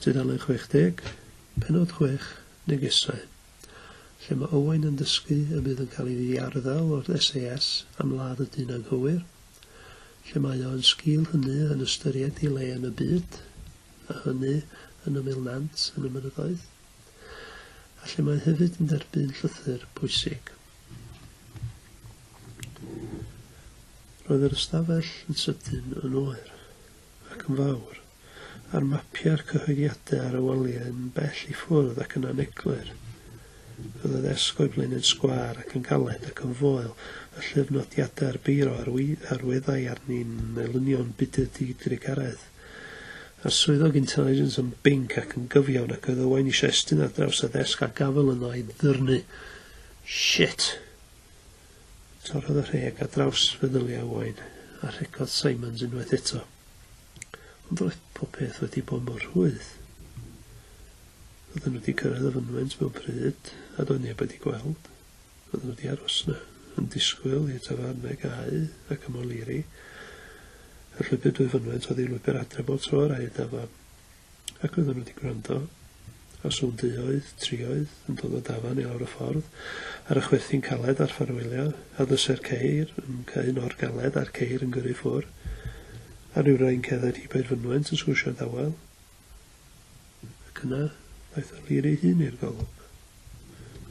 Tudalen 60, penod 6, negesau, lle mae Owain yn dysgu y bydd yn cael ei ddiarddel o'r SAS am ladd y dyn anghywir, lle mae o yn sgil hynny yn ystyried ei le yn y byd, a hynny yn ymyl nant yn y mynyddoedd, a lle mae hefyd yn derbyn llythyr pwysig. Roedd yr ystafell yn sydyn yn oer. ac yn fawr, a'r mapiau'r cyhoeddiadau ar y waliau yn bell i ffwrdd ac yn aneglur. Roedd y ddesg o'i flaen yn sgwâr ac yn galed ac yn foel, y llyfr nodiadau a'r beiro ar weddau arni'n elynion budr di-drugaredd, a'r swyddog intelligence yn binc ac yn gyfiawn, ac oedd Owain eisiau estyn ar draws y ddesg a gafael yno a'i ddyrnu. Shit! Torrodd y rheg ar draws feddyliau Owain, a rhegodd Simons unwaith eto. Ond roedd popeth wedi bod mor rhwydd. Roedden nhw wedi cyrraedd y fynwent mewn pryd, a doedd neb wedi gweld. Roedden nhw wedi aros yna, yn disgwyl i'r tafarnau gau ac ymoliri. Y llwybr dwy fynwent oedd ei lwybr adre bob tro yr aed dafarn. ac oedden nhw wedi gwrando, os yw'n duoedd, trioedd, yn dod o dafarn i lawr y ffordd, ar y chwerthin caled a'r ffarwelio, a ddysai'r ceir yn cau nôr galed a'r ceir yn gyrru ffwr, a rhyw rai'n cerdded hi bair fynwent yn swsio dawel. Ac yna, ddaeth O'Leary ei hun i'r golwg.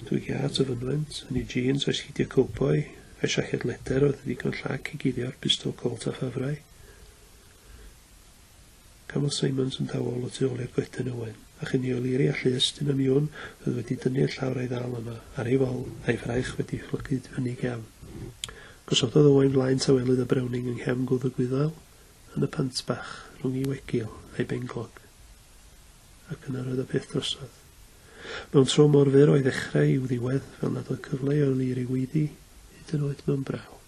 Dwy giât o fynwent, yn ei jîns a'i sgidiau cowboi, a'i siaced leder oedd yn ddigon llac i guddio'r bistol Colt a ffafrai. Cafodd Simonds yn dawel o tu ôl i'r goeden ywen, a chyn i O'Leary allu estyn am Yoon, oedd wedi dynnu y llawr a'i ddal yno, ar ei fol, a'i fraich wedi phlygu tu fyny i gefn. Gosododd Owain flaen tawelydd o Browning yng nghefn gwddf y gwyddail, yn y pant bach, rhwng ei wegil a'i benglog. Ac yna roedd y peth drosodd. Mewn tro mor fyr o'i ddechrau i'w ddiwedd, fel nad oedd cyfle i O'Leary weiddi, hyd yn oed mewn braw.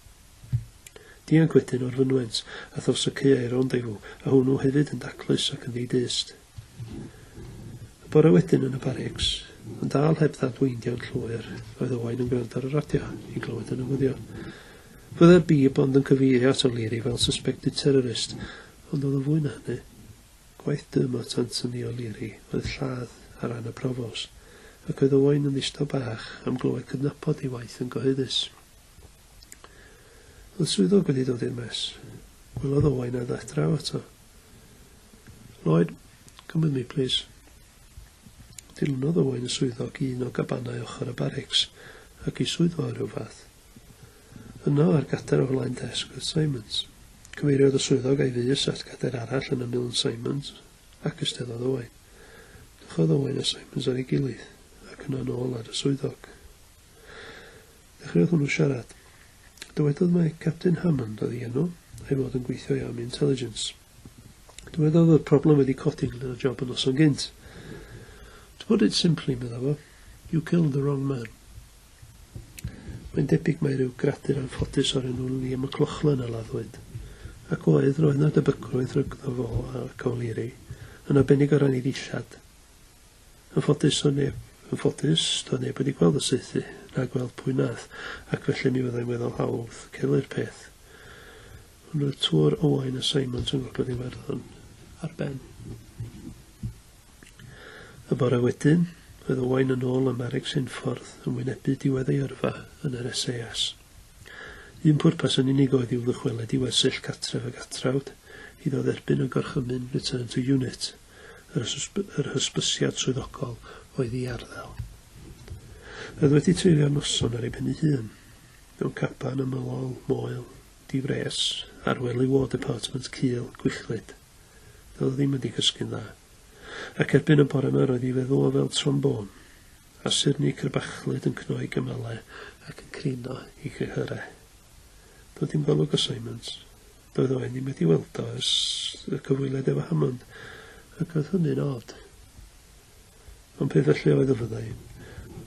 Dianc wedyn o'r fynwent, a thos y caeau ronddeifw, a hwnnw hefyd yn daclus ac yn ddi-dyst. Y bore wedyn yn y barics, ond dal heb ddadweindiau'n llwyr, roedd Owain yn gwrando ar y radio, i glywed y newyddion. Byddai'r bib ond yn cyfeirio at O'Leary fel suspected terrorist, ond oedd o fwy na hynny. Gwaith Dermot Anthony O'Leary oedd lladd ar ran y Provost, ac oedd Owain yn ddistaw bach am glywed cydnabod ei waith yn gyhoeddus. Oedd swyddog wedi dod i'r mes. Gwelodd Owain a ddaeth draw ato. Lloyd, come with me, please. Dilynodd Owain y swyddog i un o gabanau ochr y barics ac i swyddfa o ryw fath. Yno, ar gader o flaen desg, oedd Simons. Cyfeiriodd y swyddog a'i fys at gader arall yn ymyl yn Simons, ac isteddodd Owain. Dychodd Owain a Simons ar ei gilydd, ac yna nôl at y swyddog. Dechreuodd hwnnw siarad. Dywedodd mai Capten Hammond oedd ei enw, a'i fod yn gweithio i Army Intelligence. Dywedodd fod problem wedi codi ynglŷn â job y noson gynt. To put it simply, medda fo, you killed the wrong man. Mae'n debyg mai rhyw gradur anffodus o'r enw Liam McLaughlin a laddwyd. Ac oedd, roedd 'na debygrwydd rhygddo fo ac O'Leary, yn arbennig o ran ei ddillad. Yn ffodus, doedd neb, yn ffodus, doedd neb wedi gweld y saethu, na gweld pwy nath, ac felly mi fyddai'n weddol hawdd celu'r peth. Ond roedd Tuor Owain a Simons yn Gogledd Iwerddon ar ben. Y bore wedyn, roedd Owain yn ôl ym Maregs Unffordd yn wynebu diwedd ei yrfa yn yr SAS. Un pwrpas yn unig oedd i'w ddychwelyd i wersyll catref a gatrawd, iddo dderbyn y gorchymyn Return to Unit. yr hysbysiad swyddogol oedd i arddel. Roedd wedi treulio noson ar ei ben ei hun, mewn caban ymylol, moel, di-fres, ar ŵyl ei War Department cul, gwichlyd. Doedd o ddim wedi cysgu'n dda. Ac erbyn y bore yma roedd ei feddwl o fel trombôn, a surni crybachlyd yn cno ei gymalau ac yn crino ei chyhyrau. Doedd dim golwg o Simons. Doedd o ddim wedi weld o ers y cyfwyled efo Hammond, ac oedd hynny'n od. Ond pe felly oedd y fyddai,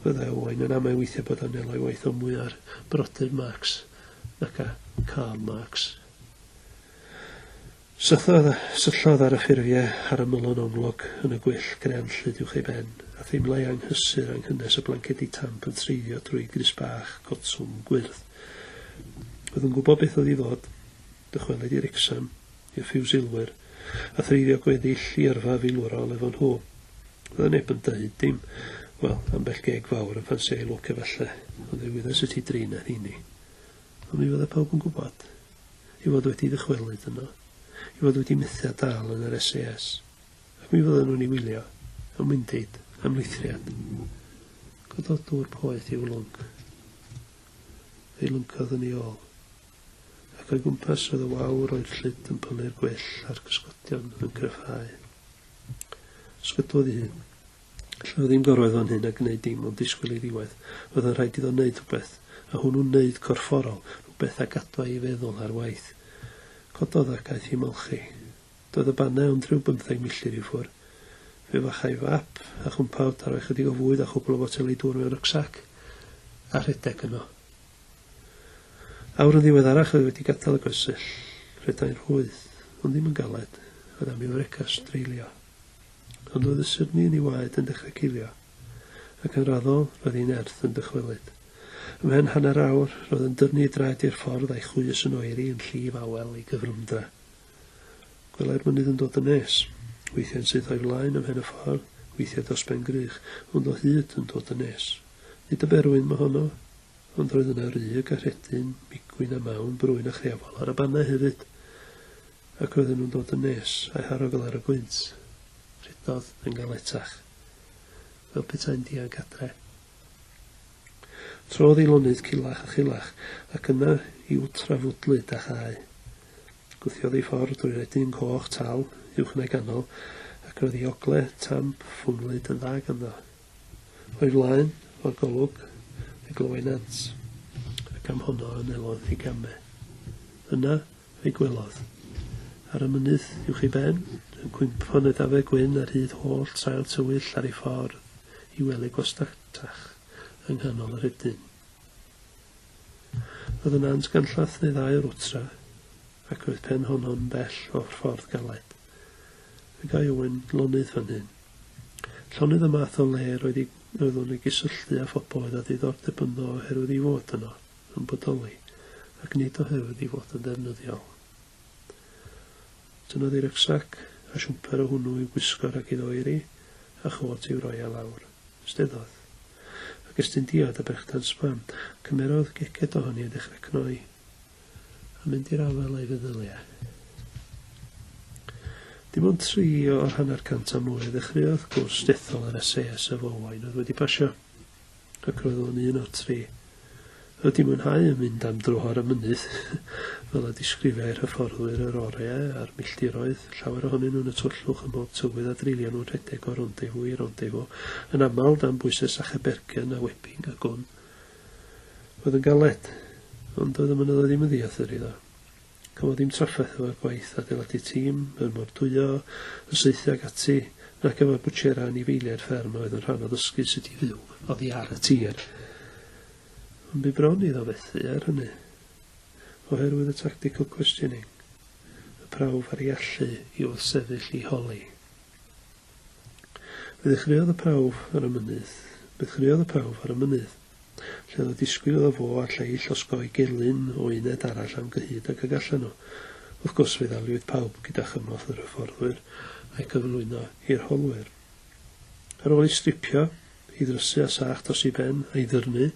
fyddai Owain yn amau weithiau bod o'n elai waith o mwy ar brodyr Marx nac a Karl Marx. Sythodd, syllodd ar y ffurfiau ar y mylon onglog yn y gwyll grean llyd uwch ei ben, a theimlai anghysur anghynnes y blancedi tamp yn treiddio drwy grys bach cotwm gwyrdd. Oedd yn gwybod beth oedd i ddod, dychwelyd i Wrecsam, i'r Ffiwsilwyr, a threiddio gweddill i yrfa filwrol efo nhw. Fydda neb yn deud dim. Wel, ambell geg fawr yn ffansio ei lwc efallai, ond fe wyddes y ti dri na rheini. Ond mi fydda pawb yn gwybod. I fod wedi dychwelyd yno. I fod wedi methu a dal yn yr SAS. Ac mi fyddan nhw'n ei wylio, am windid, am lithriad. Gododwr poeth i'w lwc. ei lwncodd yn ei ôl, ac o'i gwmpas oedd y wawr oer llyd yn pylu'r gwell a'r cysgodion yn cryfhau. Sgydwodd ei hun. Allan o ddim gorwedd fan hyn a gwneud dim ond disgwyl i ddiwedd. Roedd yn rhaid iddo wneud rhywbeth, a hwnnw'n wneud corfforol, rhywbeth a gadwa ei feddwl ar waith. Cododd ac aeth i ymolchi. Doedd y bannau ond rhyw bymtheg milltir i ffwr. Fe fachai fap a chwmpawd a rhoi chydig o fwyd a chwpl o foteli dŵr mewn rycsac a rhedeg yno. Awr yn ddiweddarach oedd wedi gadael y goesell. Rhedai'n rhwydd, ond ddim yn galed, oedd am i'w frecast dreulio. Ond oedd y syrni yn ei waed yn dechrau cilio, ac yn raddol, roedd ei nerth yn dychwelyd. Ymhen hanner awr, roedd yn dyrnu ei draed i'r ffordd a'i chwys yn oeri yn llif awel ei gyfrwmdra. Gwelai'r mynydd yn dod yn nes. Weithiau yn syth o'i flaen ym mhen y ffordd, weithiau dros ben grych, ond o hyd yn dod yn nes. Nid y berwyn mohono, ond roedd yna rug a rhedyn, migwyn a mawn, brwyn a chreafol, ar y bannau hefyd. Ac roedden nhw'n dod yn nes, a'u haro fel ar y gwynt. Rhedodd yn galetach. Fel petai'n dianc adre. Trodd ei lonydd culach a chulach, ac yna i'w trafwdlyd â chae. Gwthiodd ei ffordd drwy redyn coch tal uwch neu ganol, ac roedd ei ogle tamp ffwnghlyd yn dda ganddo. O'i flaen, o'r golwg, fe glywai nant, ac am honno anelodd i game. Yna, Ei gwelodd. Ar y mynydd uwch ei ben, yn cwympo yn y dafe gwyn ar hyd holl sail tywyll ar ei ffordd i wely gwastatach yng nghanol y rhedyn. Roedd y nant ganllath neu ddau o'r wtra, ac roedd pen honno'n bell o'r ffordd galed. Fe gai Owen lonydd fan hyn. Llonydd y math o le roedd i, roeddwn i gysylltu â phobl oedd â diddordeb ynddo oherwydd ei fod yno. yn bodoli ac nid oherwydd ei fod yn ddefnyddiol. Tynnodd ei rycsac a siwmper o hwnnw i'w gwisgo rhag iddo oeri a chôt i'w roi ar lawr. Ysteddodd. Ac estyn diod a brechdan sbam. Cymerodd geced ohoni a dechrau cnoi. A mynd i'r afael â'i feddyliau. Dim ond tri o'r hanner cant a mwy a ddechreuodd gwrs dethol yr SASF Owain oedd wedi pasio. Ac roedd o'n un o'r tri. Roedd di mwynhau yn mynd am dro ar y mynydd, fel y disgrifiai'r hyfforddwyr yr oreu a'r milltiroedd, llawer ohonyn nhw'n y tywyllwch ym mhob tywydd a dreulio nhw'n rhedeg o rendezvous i rendezvous, yn aml dan bwyses a chebergen a wepping a gwn. Roedd yn galed, ond doedd y mynyddoedd ddim yn ddiathr iddo. Cafodd dim trafferth efo'r gwaith adeiladu tîm, yr mordwyo, y saethu ag ati, nac efo'r bwtsiera anifeiliaid fferm a oedd yn rhan o ddysgu sut i fyw oddi ar y tir. Ond bu bron iddo fethu ar hynny, oherwydd y tactical questioning, y prawf ar ei allu i wrthsefyll i holi. Fe ddechreuodd y prawf ar y mynydd. Fe ddechreuodd y prawf ar y mynydd. lle oedd y disgwyl iddo fo a'r lleill osgoi gelyn o uned arall am gyhyd ag y gallan nhw. Wrth gwrs, fe ddaliwyd pawb gyda chymorth yr hyfforddwyr a'i gyflwyno i'r holwyr. Ar ôl ei stripio, ei ddrysu â sach dros ei ben, a'i ddyrnu,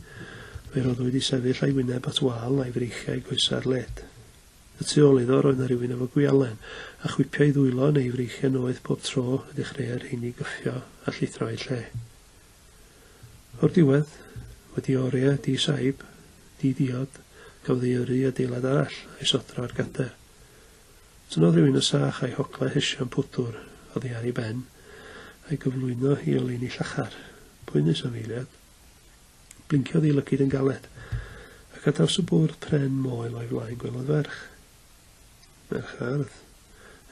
fe roddwyd i sefyll a'i wyneb at wal a'i freichiau a'i goesau ar led. Y tu ôl iddo roedd 'na rywun efo gwialen, a chwipio'i ddwylo neu ei freichiau noeth bob tro y dechreuai'r rheiny gyffio a llithro a'u lle. O'r diwedd, wedi oriau di-saib, di-diod, cafodd ei yrru i adeilad arall, a'i sodro ar gader. Tynnodd rhywun yn sach a'i hoglau hesion pwdwr oddi ar ei ben, a'i gyflwyno i oleuni llachar, poenus am eiliad. Blinciodd ei lygid yn galed, ac ar draws y bwrdd pren moel o'i flaen gwelodd ferch. Mae'r hardd,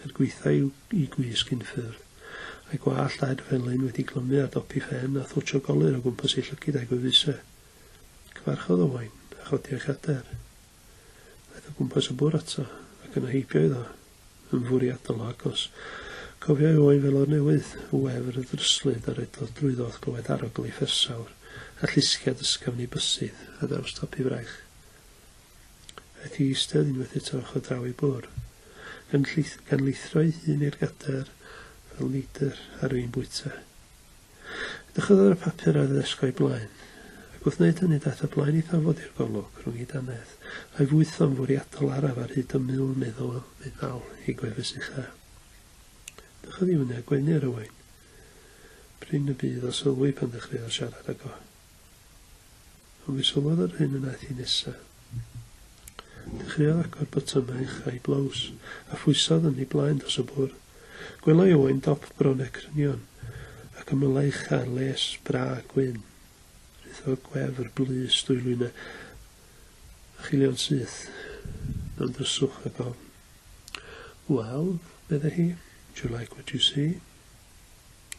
er gwaetha' i'w gwisg unffurf, a'i gwallt daid felyn wedi glymu ar dopi phen a thwtsh o golir o gwmpas ei llygid a'i gwefuse. Cyfarchodd Owain, a chodi o'i chader. Aeth o gwmpas y bwr' ato, ac yna heibio iddo. Yn fwriadol o agos, cofiai Owain felor newydd, y wefr, y ddryslyd, a redodd drwyddo wrth glywed arogl ei phersawr, a llusgiad ysgafn ei bysydd, ar draws topi fraich. ac i eistedd unwaith eto ochr draw i Bwr. Gan llith- gan lithro'i hun i'r gadair fel neidr ar fin bwyta. Edrychodd ar y papur ar y ddesg o'i blaen, ac wrth wneud hynny daeth o blaen ei thafod i'r golwg, rhwng ei dannedd, a'i fwytho'n fwriadol araf ar hyd y mul meddal, meddal ei gwefus ucha. Edrychodd i fyny a gwenu ar Owain. Prin y bydd o sylwi pan ddechreuodd siarad ag o. Ond mi sylwodd yr hyn y wnaeth hi nesa. Dechreuodd agor botymau ucha'i blows, a phwysodd yn ei blaen dros y bwr. Gwelai Owain dop bron â crynion, ac ymylai ucha'r les bra gwyn. Rhythodd gwefr blys dwylwyna a chilion syth mewn dryswch ag ofn. Wel, meddai hi, do you like what you see?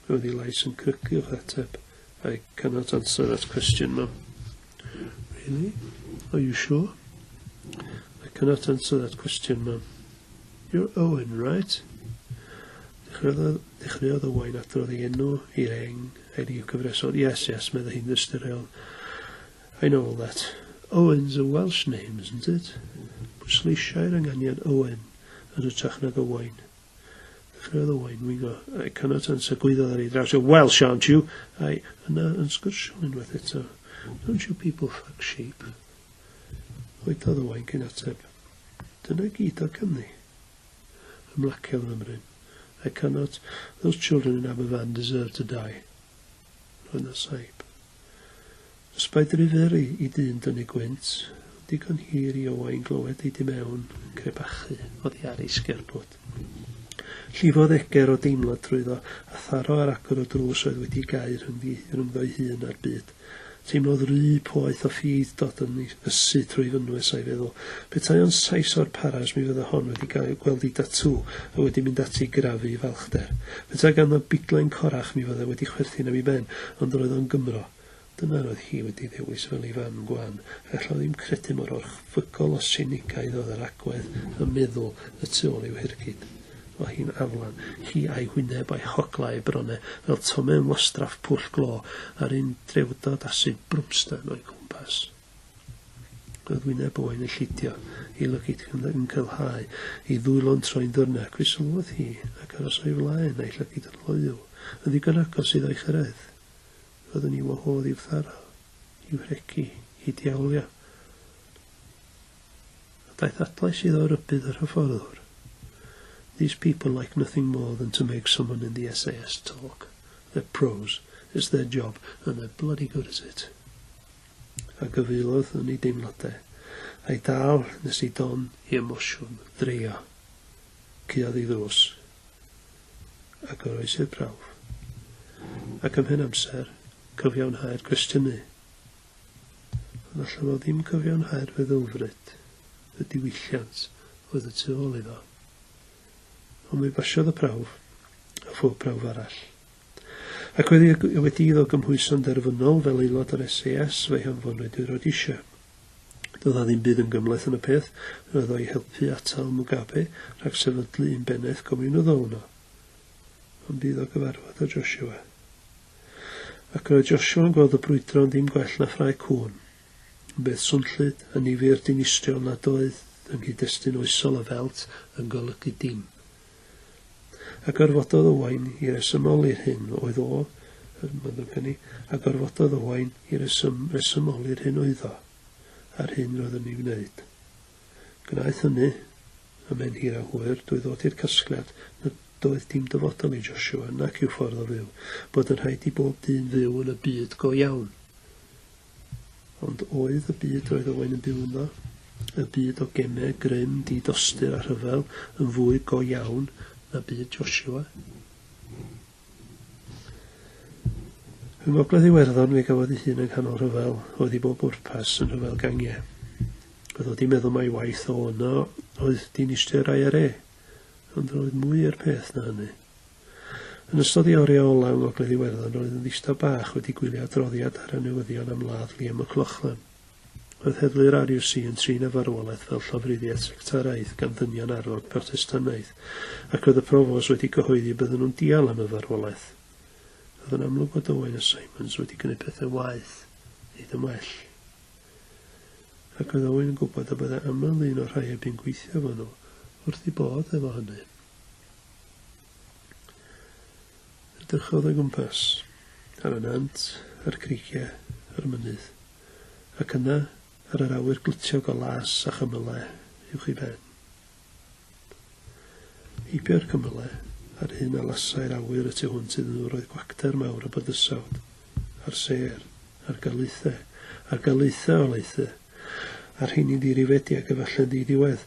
Roedd ei lais yn crycu o'ch ateb. I cannot answer that question, ma'am. Really? Are you sure? I cannot answer that question, ma'am. You're Owen, right? Dechreuodd y wain adrodd ei enw i'r eng, a'i ryw gyfresodd. Yes, yes, meddai hi'n ystyriol. I know all that. Owen's a Welsh name, isn't it? Pwysleisiau'r ynganiad Owen yn hytrach nag Owain. Further wine we go. I cannot answer. Gwyddodd ar ei draws. You're Welsh, aren't you? I, yna yn sgyrsio'n unwaith eto. Don't you people fuck sheep? Gwyddodd y wain cyn ateb. Dyna gyd o Cymru. Ymlaciodd yn ymryn. I cannot. Those children in Aberfan deserve to die. Rhoi na saib. Ysbrydri fyr i dyn dynnu gwynt, ond digon hir i Owain glywed ei du mewn yn crebachu oddi ar ei sgerbwd. Llifodd eger o deimlad drwyddo, a tharo ar agor y drws oedd wedi'i gau rhyngddi, rhyngddo'i hun a'r byd. Teimlodd ry poeth o ffydd dod yn ysu trwy fynwes a'i feddwl. Petai o'n Sais o'r Paras mi fydda hon wedi gweld ei datŵ a wedi mynd ati i grafu i falchder. Petae gan na biglen corach mi fyddai wedi chwerthin am i ben, ond roedd o'n Gymro. Dyna roedd hi wedi ddewis fel ei fan gwan, ac alla ddim credu mor orchfygol o sinigaidd oedd yr agwedd a meddwl y tu ôl i'w hirgyd. O hi'n aflan, hi a'i hwyneb a'i hogla a'i brone fel tome yn wastraff pwll glo, a'r un drewdod a sud brwmstan o'i gwmpas. Roedd wyneb Owain yn llidio, ei lygid yn cylhau, ei ddwylo'n troi'n ddyrnach, fe sylwodd hi, ac aros o'i flaen, a'i llygid yn loyw, yn ddigon agos iddo ei chyrraedd. Roedd yn i'w wahodd i'w tharo, i'w rhegi, i diawlio. A daeth adlais iddo o rybudd yr hyfforddwr. These people like nothing more than to make someone in the SAS talk. They're pros. It's their job, and they're bloody good at it. a gyfeillodd yn ei deimladau, a'i dal nes i don i emosiwn dreio. Cuodd ei ddrws, a goroesi'r prawf. Ac ymhen amser, cyfiawnhau'r cwestiynu. Ond allan o ddim cyfiawnhau'r feddylfryd, y diwylliant oedd y tu ôl iddo. Ond mi basiodd y prawf, a phob prawf arall. Ac wedi y wedi iddo gymhwyso'n derfynol fel aelod o'r SAS, fe'i hanfonwyd i Rhodesia. Doedd a ddim byd yn gymhleth yn y peth, roedd o'i helpu atal Mugabe rhag sefydlu un bennaeth gomiwnyddol yno. Ond bydd o gyfarfod â Joshua. Ac roedd Joshua'n gweld y brwydro yn ddim gwell na ffrae cŵn. Bydd swnllyd yn nifer dinistriol nad oedd yng nghyd-destun oesol y Felt yn golygu dim. A gorfododd Owain i resymoli'r hyn oedd o, yn fyddwg ynni, a gorfododd Owain i resym, resymoli'r hyn oeddo, a'r hyn roedd yn ei wneud. Gwnaeth hynny, a mae'n hir a hwyr, drwy ddod i'r casgliad nad oedd dim dyfodol i Joshua nac i'w ffordd o fyw, bod yn rhaid i bob dyn fyw yn y byd go iawn. Ond oedd y byd roedd Owain yn byw ynddo, y byd o geme, grym, di-dostur a rhyfel, yn fwy go iawn na byd Joshua? Yng Ngogledd Iwerddon fe gafodd ei hun yng nghanol rhyfel, oedd i bob bwrpas yn rhyfel gangiau. Oedd o di meddwl mai waith o yno oedd dinistr IRA, ond roedd mwy i'r peth na hynny. Yn ystod ei oriau ola' yng Ngogledd Iwerddon roedd yn ddistaw bach wedi gwylio adroddiad ar y newyddion am ladd Liam McLaughlin. Roedd heddlu'r RUC yn trin y farwolaeth fel llofruddiaeth sectaraidd gan ddynion arfog Protestannaidd ac roedd y Provos wedi cyhoeddi y bydden nhw'n dial am y farwolaeth. Roedd yn amlwg fod Owen a Simons wedi gwneud pethau waeth, nid yn well. Ac oedd Owen yn gwybod y byddai aml un o'r rhai a bu'n gweithio efo nhw wrth eu bodd efo hynny. Edrychodd o gwmpas, ar y nant, a'r creigiau, a'r mynydd, ac yna ar yr awyr glitiog o las a chymylau uwch ei ben. Heibio'r cymylau, a'r hyn a lasai'r awyr y tu hwnt iddyn nhw roedd gwacter mawr o bydysawd, a'r sêr, a'r galaethau, a'r galaethau o laethau, a'r rheini'n ddirifedi ac efallai'n ddi-ddiwedd,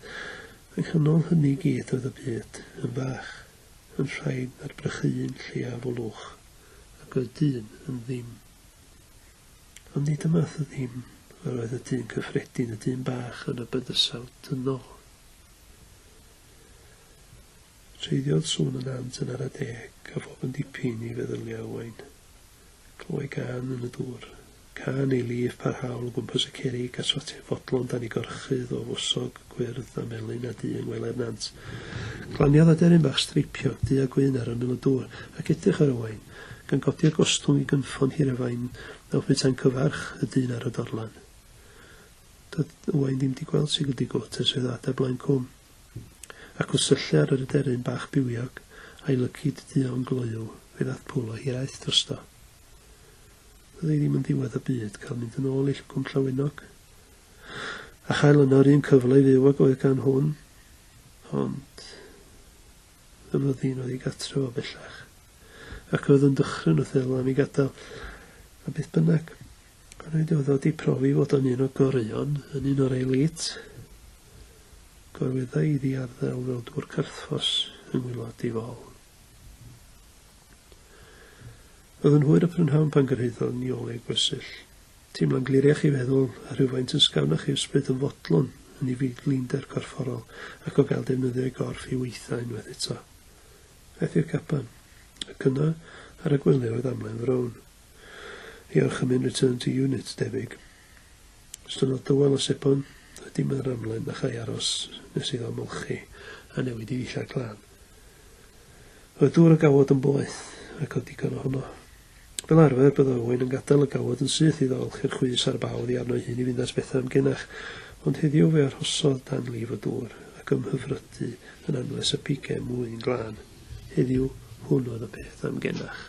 Ac yn ol hynny i gyd oedd y byd yn fach, yn rhain ar brychu un lleiaf o lwch, ac oedd dyn yn ddim. Ond nid y math o ddim yr oedd y dyn cyffredin, y dyn bach yn y bydysawd dynol. Treiddiodd sŵn y nant yn ara deg, a phob yn dipyn i feddyliau owain. Clywai gân yn y dŵr. Cân ei lif parhaol o gwmpas y cerrig a swatiau fodlon dan ei gorchudd o fwsog gwyrdd a melyn a du yng ngwely'r nant. Glaniodd aderyn bach streipiog du a gwyn ar ymyl y dŵr ac edrych ar Owain, gan godi'r gostwng i gynffon hir a fain a oedd petai'n cyfarch y dyn ar y dorlan. Doedd Owain ddim 'di gweld Sigurd Digotes oedd o adar Blaen Cwm. Ac wrth syllu ar yr aderyn bach bywiog, a'i lyci duon gloyw, fe ddaeth pwl o hiraeth drosto. Doedd hi ddim yn ddiwedd y byd cael mynd yn ôl i Llwgwm Llawenog, a chael yno yr un cyfle i fyw ag oedd gan hwn, ond y fyddin oedd ei gatref o bellach, ac oedd yn dychryn wrth ei lan i gadael, a beth bynnag. Rhaid oedd o wedi profi fod o'n un o goreuon, yn un o'r elite. gorweddai iddi arddel fel dŵr carthffos yng ngwaelod ei fol. Oedd yn hwyr y prynhawn pan gyrhaeddodd ni ole ei gwersyll. Teimlo'n gliriach ei feddwl, a rhywfaint yn sgawnach ei ysbryd yn fodlon yn ei fyd-linder gorfforol ac o gael defnyddio ei gorff i weithdai unwaith eto. Aeth i'r caban, ac yna, ar y gwely oedd amlen frown. Ei orchymyn return to unit, debyg. Ystod o dywel o sebon a dim yn yr amlen na chau aros nes iddo ymolchi a newid i ddillad glân. Roedd dŵr y gawod yn boeth, ac oedd digon ohono. Fel arfer, bydd Owain yn gadael y gawod yn syth iddo olchi'r chwys a'r baw oddi arno ei hun i fynd at Bethan genach, ond heddiw fe arhosodd dan lif y dŵr, ac ymhyfrydu yn anwes y pigem ŵyn glân. Heddiw, hwn oedd y peth am genach.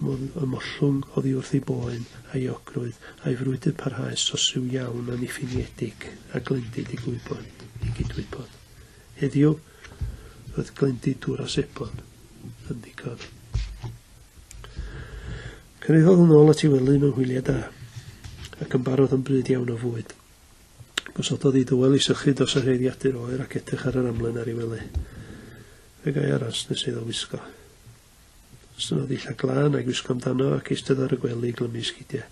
Modd y mollwng oddi wrth ei boen, a'i eogrwydd, a'i frwydr parhaus sosyw iawn anniffiniedig, a glendid i gwybod, i gydwybod. Heddiw, roedd glendid dŵr a sebon yn ddigon. Cyrhaeddodd yn ôl at ei wely mewn hwyliau da, ac yn barod yn bryd iawn o fwyd. Gosododd ei dywel i sychu dos a rheiddiadur oer ac edrych ar yr amlen ar ei wely. Be gai aros nes iddo wisgo? Synodd ddillad glân a'i gwisgo amdano ac eistedd ar y gwely i glymu sgidiau.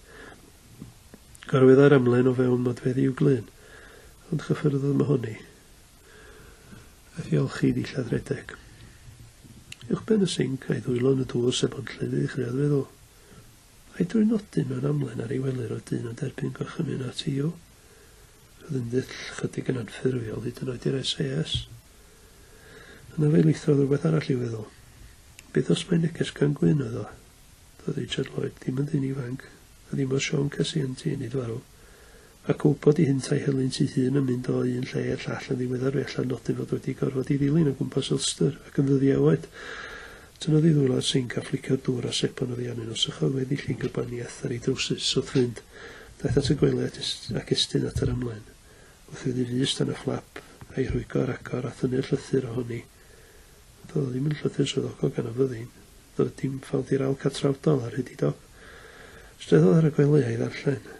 Gorweddai'r amlen o fewn modfeddi i'w glun, ond chyffyrddodd Mahoni. Aeth i olchi ddillad redeg. Uwchben y sinc a'i ddwylo yn y dŵr sef ond llyfydd i chreodd feddwl. A'i drwy nodyn mewn amlen ar ei wely roedd dyn yn derbyn gorchymyn at Io. Roedd yn ddull chydig yn anffurfiol hyd yn oed i'r SAS. Yna fe lithodd rhywbeth arall i'w feddwl. Beth os mai neges gan Gwyn oedd o? Doedd Richard Lloyd ddim yn ddyn ifanc, a ddim oedd Siôn Cesi yn ti nid farw. Ac o wybod i hynt a'i helynt ei hun yn mynd o un lle i'r llall yn ddiweddar fe allai nodi fod wedi gorfod i ddilyn o gwmpas Ulster ac yn ddyddiau oed. Tynnodd i ddwylo y sinc a phliciodd dŵr a sebon oddi arnyn nhw. Sychodd weddi llygr y bani eth ar ei drowsus, wrth fynd. Daeth at y gwely at es, ac estyn at yr ymlaen. Gwrthwyddi fus dan y fflap, a'i rhwygo ar agor, a thynnu'r llythyr ohoni. Ond doedd o ddim yn llythyr swyddogol gan y fyddin. Doedd dim ffawd i'r awl catrawdol, ar hyd ei dop. Strethodd ar y gwely a'i ddarllen.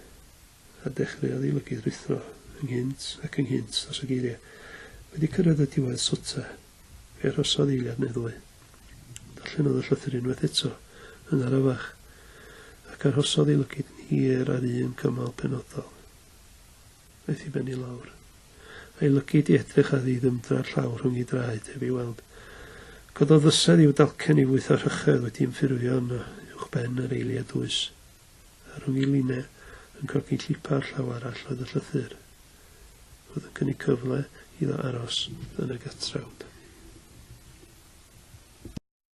A dechreuodd ei lygydd ruthro, ynghynt ac ynghynt, dros y geiriau. Wedi cyrraedd y diwedd, swta. Fe arhosodd eiliad neu ddwy. Darllenodd y llythyr unwaith eto, yn arafach, ac arhosodd ei lygid yn hir ar un cymal penodol. Aeth i ben i lawr. A'i lygid i edrych a ddi ddymdra'r llaw rhwng ei draed heb ei weld. Cododd fysedd i'w dalcen i fwytho rhychedd wedi ymffurfio yn uwchben yr eiliad dwys. Ar ôl i Line yn cogi llipa o'r llaw arall oedd y llythyr. Roedd yn cynnig cyfle iddo aros yn y gatrawd.